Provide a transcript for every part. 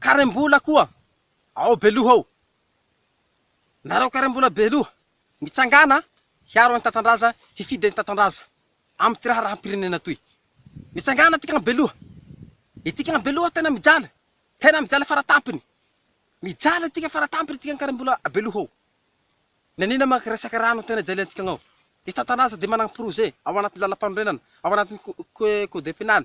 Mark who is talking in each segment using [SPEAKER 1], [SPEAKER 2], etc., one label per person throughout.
[SPEAKER 1] Karem-bola koa ao Beloha ao. Nareo karem-bola Beloha, mitsangàna hiaro an'i Tatandraza, hifidy an'i Tatandraza amin'ity raharaham-pirenena toy. Mitsangàna aty kamo Beloha. Ity kamo Beloha tena mijaly, tena mijaly faratampony. Mijaly aty ka faratampony aty ka ny karem-bola Beloha ao. Naniana manko resaka rano tena jalian'ity kamo ao. I Tatandraza dia manana projet ao anatin'ny lalampanorenana, ao anatin'ny code pénal,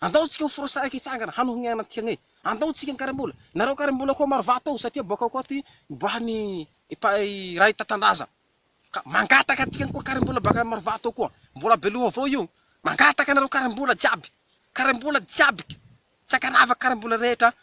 [SPEAKER 1] Andao tsika ho forosaraka hitsangana hanohigna anantika anie. Andao tsika hikarim-bola. Nareo karim-bola koa maro vato ao satria boaka ao koa ty miboahany iray tantandraza. Ka mangataka antika koa karim-bola baka maro vato ao koa. Mbola be loha avao io. Mangataka anareo karim-bola jiaby. Karim-bola jiaby. Tsy ankanavaka karim-bola rehetra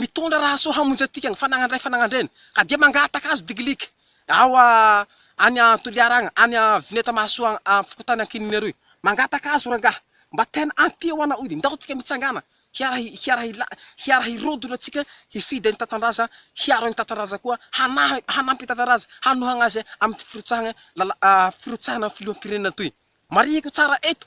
[SPEAKER 1] Mitondra raha soa hamonjy antika ny fanagnandray fanagnandreny, ka dia mangataka azy digilika ao a any a Toliara agny, any a Vineta Mahasoa agny a fokontany Ankininiaroy. Mangataka azy o rangahy, mba tena ampio ho anao io, ndao tsika mitsangana hiara hiara hila hiara hirodona tsika hifidy an'i Tatandraza, hiaro an'i Tatandraza koa, hanahy hanampy an'i Tatandraza hanohagna azy am'ty firotsahagna lala a firotsahana filoham-pirenena toy. Marihiko tsara eto.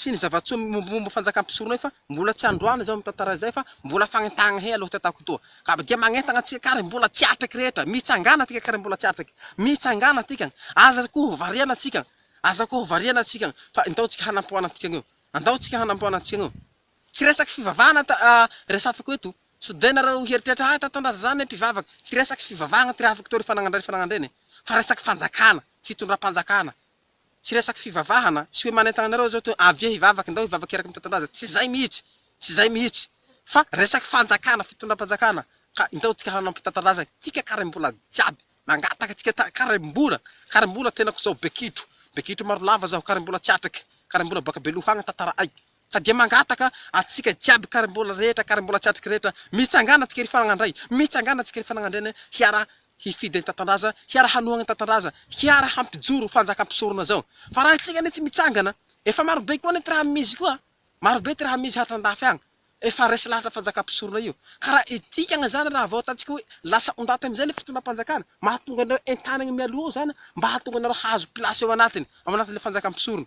[SPEAKER 1] sy ny zava-tsoa mimombomomba fanjakam-pisorona io fa mbola tsy androany izao mitantara izay fa mbola fagnentahagna he aloha ty ataoko etoa ka dia magnentagna antsika ary mbola tsy atraiky rehetra mitsangana atika kary mbola tsy atraiky mitsangana atika aza ko hovariana antsika aza ko hovariana antsika fa ndao tsika hanampoagna antika eo andao tsika hanampoagna antsika eo tsy resaky fivavahana ta a resafiko eto so de nareo hieritreritra ah tatandraza zany mpivavaka tsy resaky fivavahagna ty raha afaka atao ry fanagna ndray fanagna ndray ne fa resaky fanjakana fitondram-panjakana Tsy resaka fivavahana, tsy hoe manentana anareo izao hoe avia hivavaka, ndao hivavaka eraky ny tantandraza, tsy izay mihitsy, tsy izay mihitsy, fa resaka fanjakana, fitondram-panjakana, ka ndao tika hanao ampitantandraza tika karem-bola jiaby, mangataka tika karem-bola, karem-bola tenako izao be kitro, be kitro maro lava zaho, karem-bola tsy atrika, karem-bola baka Belohagna, tantara aiky. Ka dia mangataka antsika jiaby karimbola rehetra, karimbola tsy atrika rehetra, mitsangana antsika ry fanagnandray, mitsangana antsika ry fanagnandriana hiara hifidy an'i Tatandraza, hiara hanohagna an'i Tatandraza, hiara hampijoro fanjaka mpisorona zao. Fa raha antsika anie tsy mitsangana, efa maro be koa anie ty raha misy koa, maro be ty raha misy hatra andafy agny, efa resy lahatra fanjaka mpisorona io. Ka raha itikagna zany raha vao ataontsika hoe lasa ondaty amizay le fitondram-panjakana, mahatonga anareo entanigny mialoha ao zany mba hahatonga anareo hahazo place ao anatiny, ao anatin'le fanjaka mpisorona.